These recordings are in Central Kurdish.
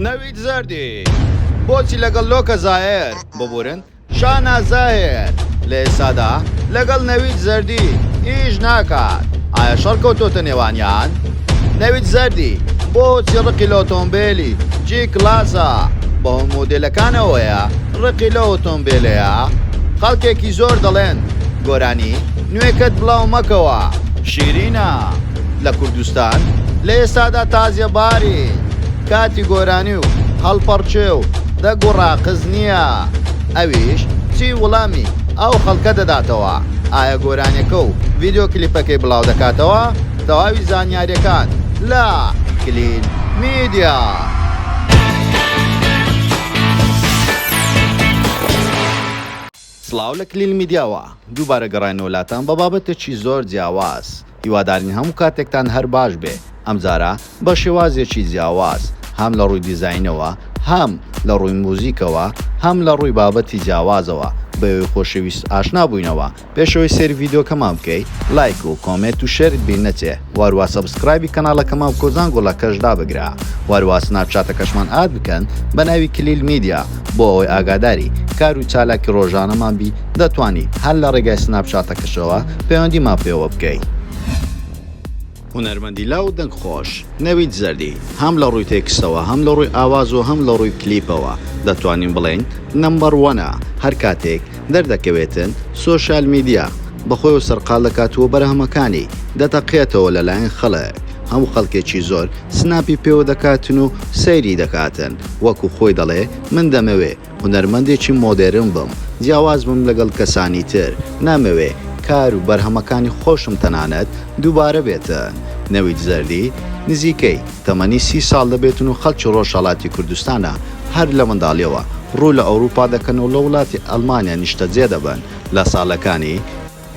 نەوید زەردی، بۆچی لەگەڵ لۆکە زاهێر، ببورن، شانا زاهێر، لە ئێستادا لەگەڵ نەوید زەردی ئیش ناکات، ئایا شەڕ کەوتۆتە نێوانیان؟ نەوید زەردی، بۆچی ڕقی لە ئۆتۆمبێلی، جی کلاسە، بەهۆی مۆدێلەکانەوەیە، ڕقی لەو ئۆتۆمبێلەیە؟ خەڵکێکی زۆر دەڵێن، گۆرانی نوێکەت بڵاو مەکەوە. شیرینە، لە کوردستان لە ئێستادا تازیەباری کاتی گۆرانی و هەڵپەڕکێ و دەگ و ڕاقز نییە ئەویش چی وڵامی ئەو خەڵکە دەداتەوە ئایا گۆرانیەکە و ڤیددیو کلیپەکەی بڵاو دەکاتەوە تەواوی زانیاریەکان لە کلین میدیا. سڵاو لە کلیل میدیاوە دووبارە گەڕاینەوە لاتان بە بابەتێکی زۆر جیاواز هیوادارین هەموو کاتێکتان هەر باش بێ ئەمجارە بە شێوازێکی جیاواز هەم لە ڕووی دیزاینەوە هەم لە ڕووی موزیکەوە هەم لە ڕووی بابەتی جیاوازەوە بەوێی خۆشەویست ئاشنا بووینەوە پێشەوەی سەیری ڤیدیۆکەمان بکەی لایک و کۆمێت و شێرت بیر نەچێ. واروا سەبسکرایبی کەناڵەکەمان بکەو زانگۆڵە کەش دابگرە واروا سناپ چاتەکەشمان ئاد بکەن بەناوی کلیل میدیا بۆ ئەوەی ئاگاداری کارو چالاکی ڕۆژانەمان بی دەتوانی هەر لە ڕێگای سناپ چاتەکەشەوە پەیوەندیمان پێوە بکەی. هونەرمەندی لاو دەنگ خۆش نەوید زەردی هەم لە ڕووی تێکستەوە هەم لە ڕووی ئاواز و هەم لە ڕووی کلیپەوە دەتوانین بڵێین نەمبەر وەنە هەر کاتێک دەردەکەوێتن سۆشیال میدیا بەخۆیەوە سەرقال دەکات و بەرهەمەکانی دەتەقێتەوە لەلایەن خەڵک هەموو خەڵکێکی زۆر سناپی پێوە دەکاتن و سەیری دەکاتن وەکو خۆی دەڵێ من دەمەوێ هونەرمەندێکی مۆدێرن بم جیاواز بم لەگەڵ کەسانی تر نامەوێ کار و بەرهەمەکانی خۆشم تەنانەت دووبارە بێتن نەوید زەردی نزیکەی تەمەنی سی ساڵ دەبێتن و خەڵکی ڕۆژهەڵاتی کوردستانە، هەر لە منداڵیەوە ڕوو لە ئەوروپا دەکەن و لە وڵاتی ئەڵمانیا نیشتەجێ دەبن، لە ساڵەکانی.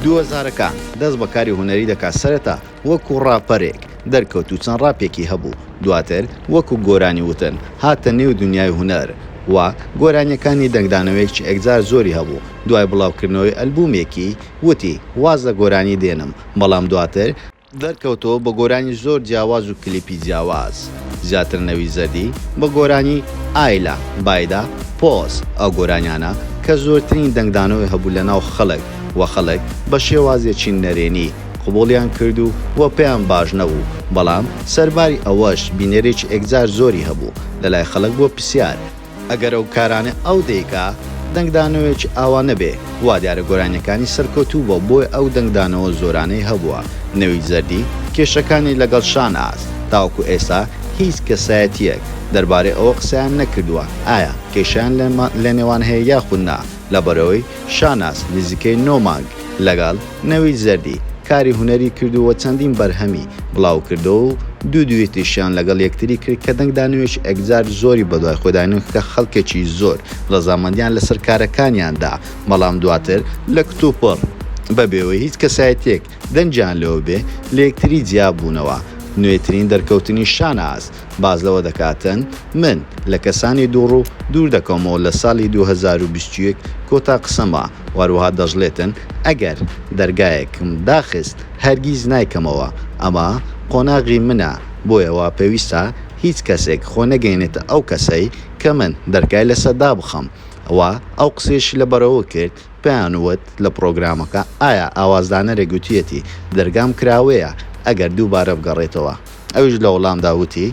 دوو هەزارەکان دەست بە کاری هونەری دەکات، سەرەتا وەکو ڕاپەرێک دەرکەوت و چەند ڕاپێکی هەبوو، دواتر وەکو گۆرانی وتن هاتە نێو دونیای هونەر و گۆرانیەکانی دەنگدانەوەیەکی ئێکجار زۆری هەبوو، دوای بڵاوکردنەوەی ئەلبومێکی وتی واز لە گۆرانی دێنم، بەڵام دواتر. دەرکەوتەوە بە گۆرانی زۆر جیاواز و کلیپی جیاواز زیاتر نەوید زەردی بە گۆرانی، ئایلا، بایدا، پۆز، ئەو گۆرانیانە کە زۆرترین دەنگدانەوەی هەبوو لە ناو خەڵک و خەڵک بە شێوازێکی نەرێنی قبوڵیان کرد و و پێیان باش نەبوو بەڵام سەرباری ئەوەش بینەرێکی ئێکجار زۆری هەبوو لەلای خەڵک بۆ پسیار ئەگەر ئەو کارانەی ئەو دەیکا دەنگدانەوەیەکی ئاوا نەبێ، وا دیارە گۆرانیەکانی سەرکەوتوو بووە بۆیە ئەو دەنگدانەوە زۆرانەی هەبووە، نەوید زەردی کێشەکانی لەگەڵ شاناز تاوەکو ئێستا هیچ کەسایەتیەک دەربارەی ئەوە قسەیان نەکردووە ئایا کێشەیان لەنێوان هەیە یاخود نا لەبەرئەوەی شاناز نزیکەی نۆ مانگ لەگەڵ نەوید زەردی کاری هونەری کردووە و چەندین بەرهەمی بڵاو کردووە و دوو دویتیشیان لەگەڵ یەکتری کرد کە دەنگ دانەوێکی ئەکجار زۆری بەدوای خۆدا نین کە خەڵکێکی زۆر ڕەزامەندیان لەسەر کارەکانیان دا بەڵام دواتر لە کتوپڕ بە بێوەی هیچ کەسایەتیەک دەنگیان لەوە بێ لە یەکتری جیا بوونەوە نوێترین دەرکەوتنی شاناز باس لەوە دەکاتن من لە کەسانی دووڕوو دوور دەکەومەوە لە سالی دوو هەزار و بیست و یەک کۆتا قسەمە و هەروەها دەشڵێتن ئەگەر دەرگایەکم داخست هەرگیز نایکەمەوە ئەمە قۆناغی منە بۆیە وا پێویستە هیچ کەسێک خۆ نەگەینێتە ئەو کەسەی کە من دەرگای لەسەر دابخەم و ئەو قسەیەشی لە بەرەوە کرد پێیان وت لە پڕۆگرامەکە ئایا ئاوازدانەرێک گوتویەتی دەرگام کراوەیە ئەگەر دووبارە بگەڕێتەوە ئەویش لە وڵامدا وتی،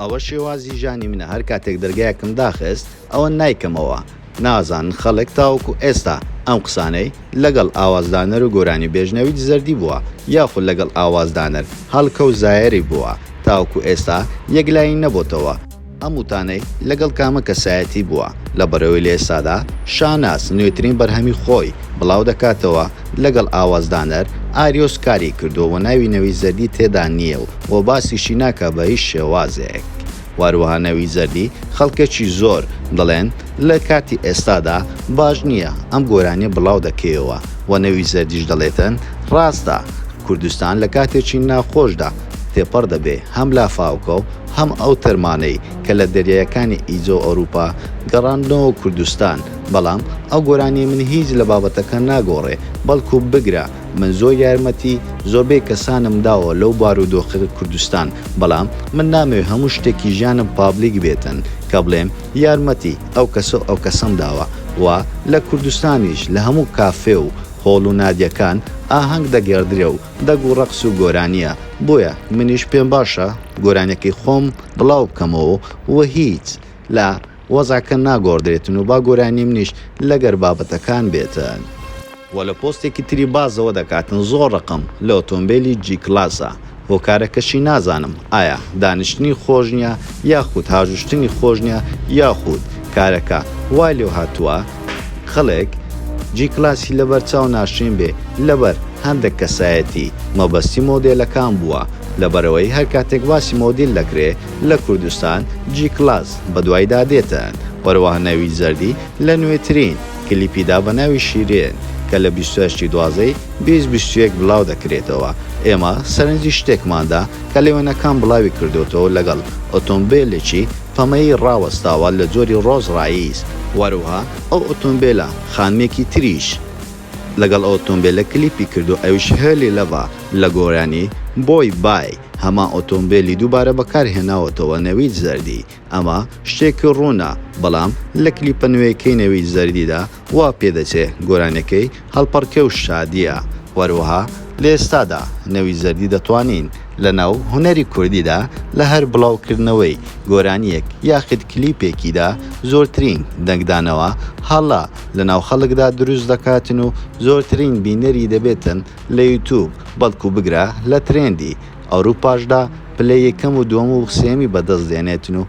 ئەوە شێوازی ژانی منە هەر کاتێک دەرگایەکم داخست ئەوە نایکەمەوە، نازانن خەڵک تاوەکو ئێستا ئەم قسانەی لەگەڵ ئاوازدانەر و گۆرانیبێژ نەوید زەردی بووە یاخود لەگەڵ ئاوازدانەر هەڵکەو زایەری بووە تاوەکو ئێستا یەکلایی نەبۆتەوە، ئەم وتانەی لەگەڵ کامە کەسایەتی بووە؟ لە بەرەوەی لە ئێستادا شاناز نوێترین بەرهەمی خۆی بڵاو دەکاتەوە لەگەڵ ئاوازدانەر ئاریۆس کاری کردووە و ناوی نەوید زەردی تێدا نییە و و باسیشی ناکا بە هیچ شێوازێک و هەروەها نەوید زەردی خەڵکێکی زۆر دەڵێن لە کاتی ئێستادا باش نییە ئەم گۆرانیە بڵاو دەکەیەوە و نەوید زەردیش دەڵێتن ڕاستە کوردستان لە کاتێکی ناخۆشدا تێپەڕ دەبێ هەم لافاوکە و هەم ئەو تەرمانەی کە لە دەریایەکانی ئیجە و ئەوروپا گەڕاندنەوە کوردستان بەڵام ئەو گۆرانیە من هیچ لە بابەتەکە ناگۆڕێ بەڵکو بگرە من زۆر یارمەتی زۆربەی کەسانم داوە لەو بارودۆخ کوردستان بەڵام من نامەوێ هەموو شتێکی ژیانم پابلیک بێتن کە بڵێم یارمەتی ئەو کەس و ئەو کەسەم داوە و لە کوردستانیش لە هەموو کافێ و هۆڵ و نادیەکان ئاهەنگ دەگێڕدرێ و دەنگ و ڕەقس و گۆرانیە بۆیە منیش پێم باشە گۆرانیەکەی خۆم بڵاو بکەمەوە و هیچ لە وەزعەکە ناگۆڕدرێتن و با گۆرانی منیش لەگەر بابەتەکان بێتن. وە لە پۆستێکی تری بازەوە دەکاتن زۆر ڕقم لە ئۆتۆمبێلی جی کلاسە هۆکارەکەشی نازانم ئایا دانیشتنی خۆش نیە یاخود هاژوشتنی خۆش نیە یاخود کارەکە وای لێوهاتوە خەڵک جی کلاسی لەبەرچاو ناشرین بێ لەبەر هەندەک کەسایەتی مەبەستی مۆدێلەکان بووە لەبەرئەوەی هەرکاتێک باسی مۆدیل دەکرێ لە کوردستان جی کلاس بەدوایدا دێتن وەروەها نەوید زەردی لە نوێترین کلیپیدا بە ناوی شیرین کە لە بیست و هەشت ی دوازدە ی بیست بیست و یەک بلاو دەکرێتەوە ئێمە سەرنجی شتێکماندا کە لەوێنەکان بلاوی کردۆتەوە لەگەڵ ئۆتۆمبێلێکی پەمەیی ڕاوەستاوە لە جۆری ڕۆز ڕایس. وەروها ئەو ئۆتۆمبێلە خانمێکی تریش لەگەڵ ئەو ئۆتۆمبێلە کلیپی کردوە ئەویش هێلی لەڤە لە گۆرانی، بۆی بای، هەمان ئۆتۆمبێلی دووبارە بەکار هێناوەتەوە نەوید زەردی ئەمە شتێکی ڕوونە بەڵام لە کلیپە نوێیەکەی نەوید زەردیدا وا پێدەچێ گۆرانیەکەی هەڵپەڕکێ و شادیە، وەروەها لە ئێستادا نەوی زەردی دەتوانین لە ناو هونەری کوردیدا لە هەر بڵاو کردنەوەی گۆرانیەک یاخید کلیپێکیدا زۆرترین دەنگدانەوە هەڵە لە ناو خەڵکدا دروست دەکاتن و زۆرترین بینەری دەبێتن لە یوتوب بەڵکو بگرە لە ترێندی ئەوروپاشدا پلەی یەکەم و دووەم و سێیەمی بەدەست دێنێتن و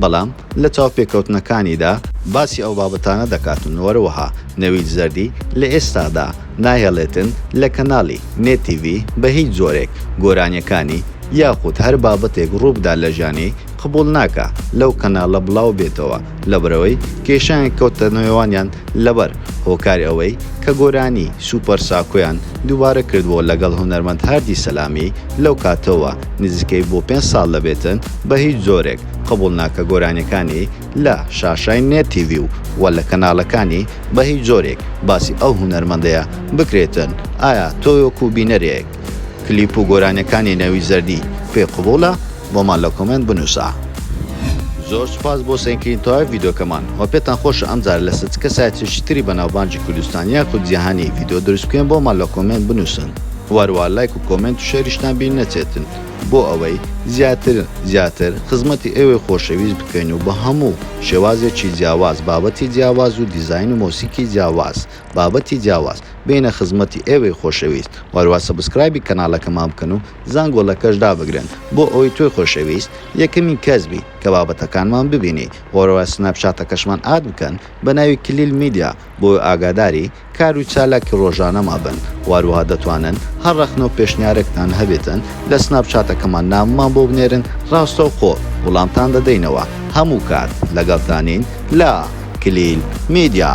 بەڵام لە چاوپێکەوتنەکانیدا باسی ئەو بابەتانە دەکاتن وەروەها نەوید زەردی لە ئێستادا ناهێڵێتن لە کەناڵی، نێت تیڤی، بە هیچ جۆرێک گۆرانیەکانی یاخود هەر بابەتێک ڕووبدا لە ژانی قبوڵ ناکا لەو کەناڵە بڵاوبێتەوە لەبرەوەی کێشەیان کەوتە نێوانیان، لەبەر هۆکاری ئەوەی کە گۆرانی، سوپەر ساکۆیان، دووبارە کردووە لەگەڵ هونەرمەند هاردی سەلامی، لەو کاتەوە نزیکەی بۆ پێنج ساڵ دەبێتن، بە هیچ جۆرێک قبوڵ نا کە گۆرانیەکانی لە شاشای نێت تیڤی و وە لە کەناڵەکانی بە هیچ جۆرێک باسی ئەو هونەرمەندەیە بکرێتن، ئایا تۆ وەکو بینەرێک کلیپ و گۆرانیەکانی نەوی زەردی پێ قبوڵە؟ بۆمان لە کۆمێنت بنوسە. زۆر سوپاس بۆ سەیرکردنی تەواوی ڤیدۆکەمان وە پێتان خۆشە ئەم جارە لەسەر چ کەسایەتێکی تری بەناوبانگی کوردستان یاخود جیهانی ڤیدۆ دروست بکەین بۆمان لە کۆمێنت بنوسن وە هەروا لایک و کۆمێنت و شێریشتان بیر نەچێتن بۆ ئەوەی زیاتر زیاتر خزمەتی ئێوەی خۆشەویست بکەین و بە هەموو شێوازێکی جیاواز بابەتی جیاواز و دیزاین و مۆسیکی جیاواز بابەتی جیاواز بێینە خزمەتی ئێوەی خۆشەویست وە هەروا سەبسکرایبی کەنالەکەمان بکەن و زانکۆلەکەش دابگرن بۆ ئەوەی تۆی خۆشەویست یەکەمین کەس بیت کە بابەتەکانمان ببینی وەرەوە سناپ چاتەکەشمان ئاد بکەن بەناوی کلیل میدیا بۆی ئاگاداری کارو چالاکی ڕۆژانەما بن وەروەها دەتوانن هەر ڕەخنەو پێشنیارێکتان هەبێتن لە سناپ چاتەکەمان نامەمان بۆ بنێرن ڕاستەوخۆ وڵامتان دەدەینەوە هەموو کات لەگەڵتانین لە کلیل میدیا.